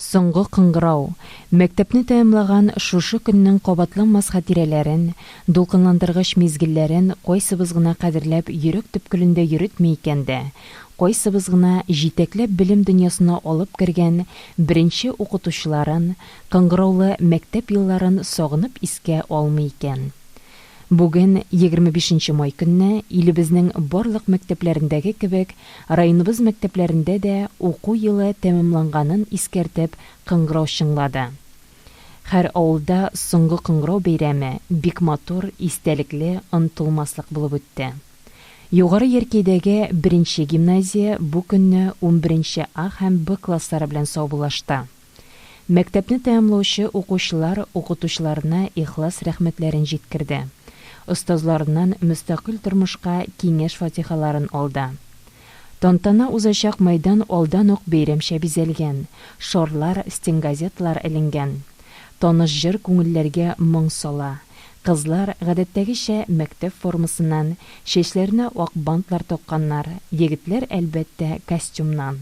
Соңгы кыңгырау, мәктәпне тәмамлаган шушы көннең кабатланмас хатирәләрен, дулкынландыргыч мизгелләрен кайсыбыз гына кадерләп йөрәк төпкелендә йөретми икән дә, кайсыбыз гына җитәкләп белем дөньясына алып кергән беренче укытучыларын, кыңгыраулы мәктәп елларын сагынып искә алмый икән? Бүген, егерме бишенче май көнне, илебезнең барлык мәктәпләрендәге кебек, районыбыз мәктәпләрендә дә уку елы тәмамланганын искәртеп кыңгырау чыңлады. Хәр авылда соңгы кыңгырау бәйрәме бик матур, истәлекле, онытылмаслык булып үтте. Югары Яркәйдәге беренче гимназия бу көнне унберенче А һәм Б класслары белән саубуллашты. Мәктәпне тәмамлаучы укучылар укытучыларына ихлас рәхмәтләрен җиткерде, остазларыннан мөстәкыйль тормышка киңәш-фатихаларын алды. Тантана узачак мәйдан алдан ук бәйрәмчә бизәлгән, шарлар, стенгазеталар эленгән. Таныш җыр күңелләргә моң сала. Кызлар, гадәттәгечә, мәктәп формасыннан, чәчләренә ак бантлар такканнар, егетләр, әлбәттә, костюмнан.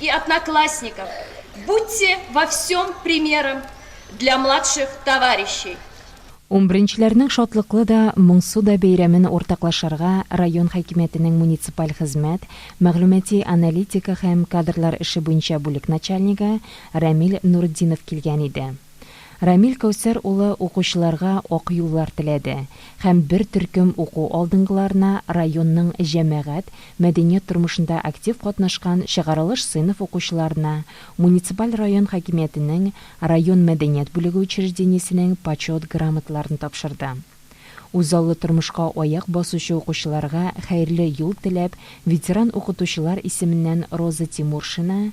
и одноклассников, будьте во всем примером для младших товарищей. Унберенчеләрнең шатлыклы да, моңсу да бәйрәмен уртаклашырга район хакимиятенең муниципаль хезмәт, мәгълүмати аналитика һәм кадрлар эше буенча бүлек начальнигы Рәмил Нуретдинов килгән иде. Рамил Кәүсәр улы укучыларга ак юллар теләде һәм бер төркем уку алдынгыларына районның җәмәгать, мәдәният тормышында актив катнашкан чыгарылыш сыйныф укучыларына, муниципаль район хакимиятенең район мәдәният бүлеге учреждениесенең Почет грамоталарын тапшырды. Үзаллы тормышка аяк басучы укучыларга хәерле юл теләп, ветеран укытучылар исеменнән Роза Тимуршина,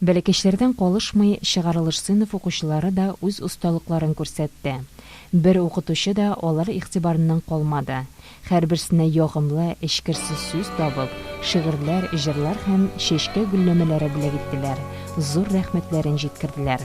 Бәләкәчләрдән калышмый, чыгарылыш сыйныф укучылары да үз осталыкларын күрсәтте. Бер укытучы да алар игътибарыннан калмады. Һәрберсенә ягымлы, эчкерсез сүз табып, шигырьләр, җырлар һәм чәчкә гөлләмәләре бүләк иттеләр, зур рәхмәтләрен җиткерделәр.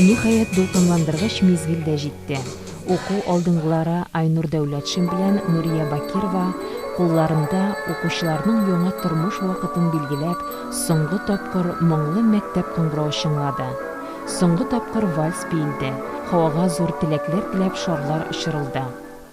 Ниһаять, дулкынландыргыч мизгел дә җитте. Уку алдынгылары Айнур Дәүләтшин белән Нурия Бакирова кулларында укучыларның яңа тормыш вакытын билгеләп, соңгы тапкыр моңлы мәктәп кыңгырау чыңлады. Соңгы тапкыр вальс биелде, һавага зур теләкләр теләп шарлар очырылды.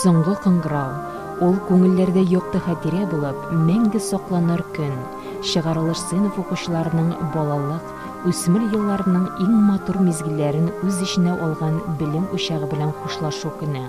Соңгы кыңгырау, ул күңелләрдә якты хәтирә булып, мәңге сакланыр көн, чыгарылыш сыйныф укучыларының балалык, үсмер елларының иң матур мизгелләрен үз эченә алган белем учагы белән хушлашу көне.